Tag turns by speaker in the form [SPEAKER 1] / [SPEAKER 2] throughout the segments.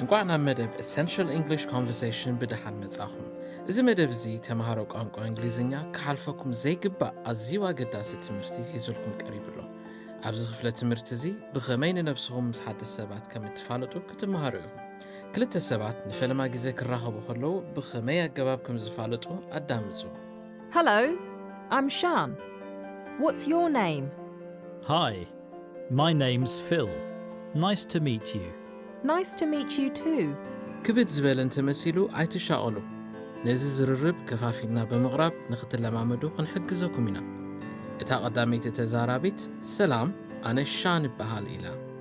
[SPEAKER 1] እንቋዕ ናብ መደብ ኤሰንሽል እንግሊሽ ኮንቨርሴሽን ብደሓን መጻኹም። እዚ መደብ እዚ ተምሃሮ ቋንቋ እንግሊዝኛ ክሓልፈኩም ዘይግባእ ኣዝዩ ኣገዳሲ ትምህርቲ ሒዙልኩም ቀሪቡ ኣሎ። ኣብዚ ክፍለ ትምህርቲ እዚ ብኸመይ ንነብስኹም ምስ ሓደስቲ ሰባት ከም እትፋለጡ ክትመሃሩ ኢኹም። ክልተ ሰባት ንፈለማ ግዜ ክራኸቡ ከለዉ ብኸመይ ኣገባብ ከም ዝፋለጡ ኣዳምጹ። Hello,
[SPEAKER 2] I'm Shan. What's your name? Hi,
[SPEAKER 3] my name's Phil. Nice to meet you. Nice to meet
[SPEAKER 2] you too. ክብድ ዝበለ
[SPEAKER 1] እንተመሲሉ ኣይትሻቐሉ። ነዚ ዝርርብ ከፋፊልና ብምቕራብ ንኽትለማመዱ ክንሕግዘኩም ኢና። እታ ቐዳመይቲ ተዛራቢት ሰላም ኣነ ሻን እበሃል ኢላ።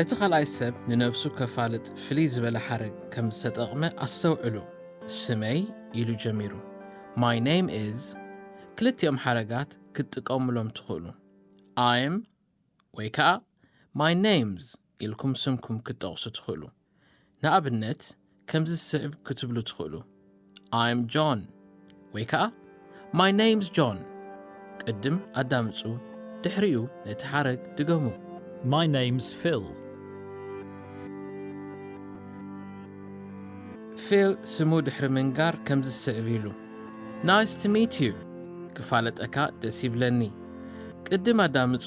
[SPEAKER 1] እቲ ኻልኣይ ሰብ ንነብሱ ከፋልጥ ፍልይ ዝበለ ሓረግ ከም ዝተጠቕመ ኣስተውዕሉ፣ ስመይ ኢሉ ጀሚሩ፣ My name is፣ ክልቲኦም ሓረጋት ክትጥቀሙሎም ትኽእሉ፣ I'm ወይ ከኣ My name's። ኢልኩም ስምኩም ክትጠቕሱ ትኽእሉ። ንኣብነት ከምዚ ዝስዕብ ክትብሉ ትኽእሉ፣ I'm John ወይ ከኣ My name's John ቅድም ኣዳምጹ ድሕሪኡ ነቲ ሓረግ ድገሙ። My name's
[SPEAKER 3] Phil።
[SPEAKER 1] ፊል ስሙ ድሕሪ ምንጋር ከም ዝስዕብ ኢሉ ናይስ ቱ ሚት ዩ ክፋለጠካ ደስ ይብለኒ ቅድም ኣዳምጹ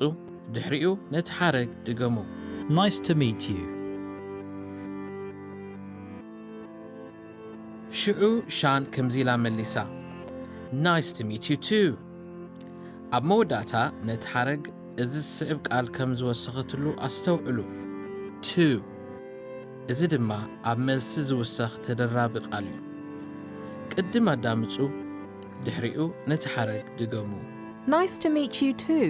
[SPEAKER 1] ድሕሪኡ ነቲ ሓረግ ድገሙ። Nice to
[SPEAKER 3] meet you።
[SPEAKER 1] ሽዑ ሻን ከምዚ ኢላ መሊሳ፣ Nice to meet you too። ኣብ መወዳእታ ነቲ ሓረግ እዚ ዝስዕብ ቃል ከም ዝወሰኸትሉ ኣስተውዕሉ፣ to። እዚ ድማ ኣብ መልሲ ዝውሰኽ ተደራቢ ቃል እዩ። ቅድም ኣዳምጹ፣ ድሕሪኡ ነቲ ሓረግ ድገሙ። Nice to meet
[SPEAKER 2] you too።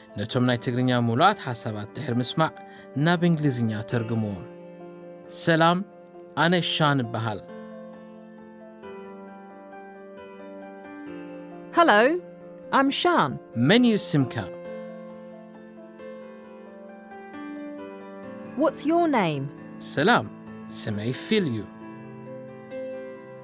[SPEAKER 1] ነቶም ናይ ትግርኛ ምሉኣት ሓሳባት ድሕሪ ምስማዕ ናብ እንግሊዝኛ ተርግምዎ። ሰላም ኣነ ሻን እበሃል።
[SPEAKER 2] Hello, I'm Shan. መን እዩ ስምካ? What's your name? ሰላም
[SPEAKER 1] ስመይ ፊል እዩ።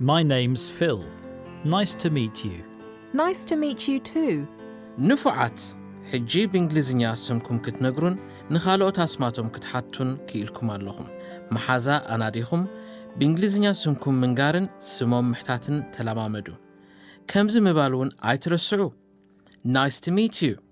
[SPEAKER 3] My name's Phil. Nice to meet you. Nice to meet
[SPEAKER 2] you too. ንፉዓት!
[SPEAKER 1] ሕጂ ብእንግሊዝኛ ስምኩም ክትነግሩን ንኻልኦት ኣስማቶም ክትሓቱን ክኢልኩም ኣለኹም። መሓዛ ኣናዲኹም ብእንግሊዝኛ ስምኩም ምንጋርን ስሞም ምሕታትን ተለማመዱ። ከምዚ ምባል'ውን ኣይትረስዑ! Nice to meet you!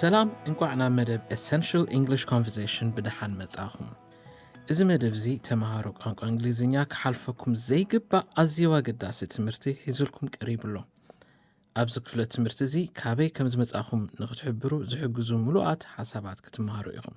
[SPEAKER 1] ሰላም እንቋዕ ናብ መደብ ኤሰንሽል ኢንግሊሽ ኮንቨርሴሽን ብደሓን መጻኹም። እዚ መደብ እዚ ተምሃሮ ቋንቋ እንግሊዝኛ ክሓልፈኩም ዘይግባእ ኣዝዩ ኣገዳሲ ትምህርቲ ሒዙልኩም ቀሪቡ ኣሎ። ኣብዚ ክፍለ ትምህርቲ እዚ ካበይ ከም ዝመጻኹም ንክትሕብሩ ዝሕግዙ ምሉኣት ሓሳባት ክትምሃሩ ኢኹም።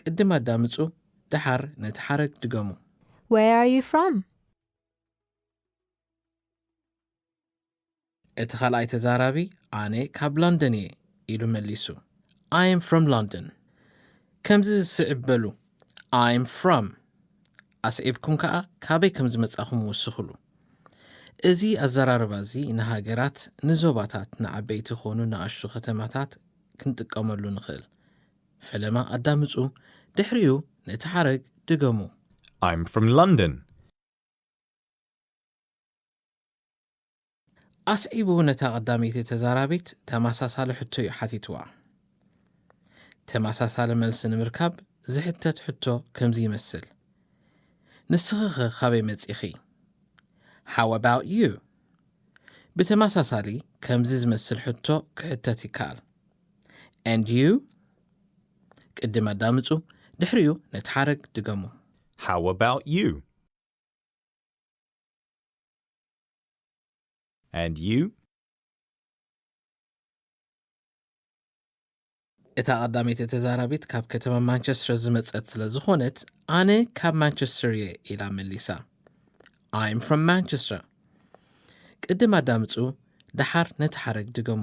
[SPEAKER 1] ቅድም ኣዳምጹ ደሓር ነቲ ሓረግ ድገሙ። Where are you
[SPEAKER 4] from?
[SPEAKER 1] እቲ ካልኣይ ተዛራቢ ኣነ ካብ ሎንደን እየ ኢሉ መሊሱ። I am from London። ከምዚ ዝስዕብ በሉ I am from ኣስዒብኩም ከኣ ካበይ ከም ዝመጻኹም ወስኽሉ። እዚ ኣዘራርባ እዚ ንሃገራት፣ ንዞባታት፣ ንዓበይቲ ኮኑ ንኣሽቱ ከተማታት ክንጥቀመሉ ንኽእል። ፈለማ ኣዳምጹ፣ ድሕሪኡ ነቲ ሓረግ ድገሙ። I'm from
[SPEAKER 5] London።
[SPEAKER 1] ኣስዒቡ ነታ ቀዳመይቲ ተዛራቢት ተመሳሳሊ ሕቶ እዩ ሓቲትዋ። ተመሳሳሊ መልሲ ንምርካብ ዝሕተት ሕቶ ከምዚ ይመስል። ንስኺኸ ካበይ መጺኺ? How about you? ብተመሳሳሊ ከምዚ ዝመስል ሕቶ ክሕተት ይከኣል። and you ቅድም ኣዳምጹ ድሕሪኡ ነቲ ሓረግ ድገሙ። How about
[SPEAKER 5] you? And you?
[SPEAKER 1] እታ ቀዳመይቲ ተዛራቢት ካብ ከተማ ማንቸስተር ዝመጸት ስለ ዝኾነት ኣነ ካብ ማንቸስተር እየ ኢላ መሊሳ I'm from Manchester ቅድም ኣዳምጹ ደሓር ነቲ ሓረግ ድገሙ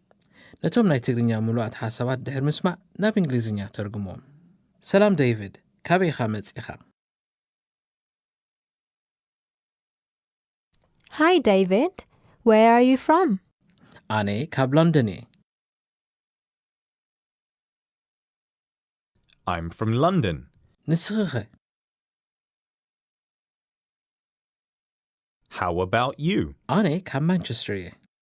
[SPEAKER 1] ነቶም ናይ ትግርኛ ምሉኣት ሓሳባት ድሕሪ ምስማዕ ናብ እንግሊዝኛ ተርጉሞም። ሰላም ደይቪድ፣ ካበይ ኢኻ መጺኻ?
[SPEAKER 4] Hi David, where are you from? ኣነ
[SPEAKER 1] ካብ ሎንደን እየ።
[SPEAKER 5] I'm from London. ንስኺኸ? How about you? ኣነ ካብ
[SPEAKER 1] ማንቸስተር እየ።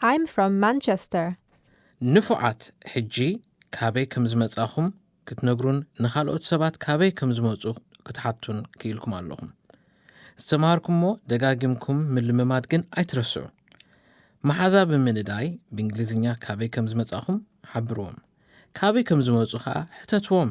[SPEAKER 5] I'm
[SPEAKER 4] from Manchester. ንፉዓት
[SPEAKER 1] ሕጂ ካበይ ከም ዝመጻኹም ክትነግሩን ንኻልኦት ሰባት ካበይ ከም ዝመጹ ክትሓቱን ክኢልኩም ኣለኹም። ዝተማሃርኩሞ ደጋጊምኩም ምልምማድ ግን ኣይትረስዑ። መሓዛ ብምንዳይ ብእንግሊዝኛ ካበይ ከም ዝመጻኹም ሓብርዎም። ካበይ ከም ዝመጹ ከኣ ሕተትዎም።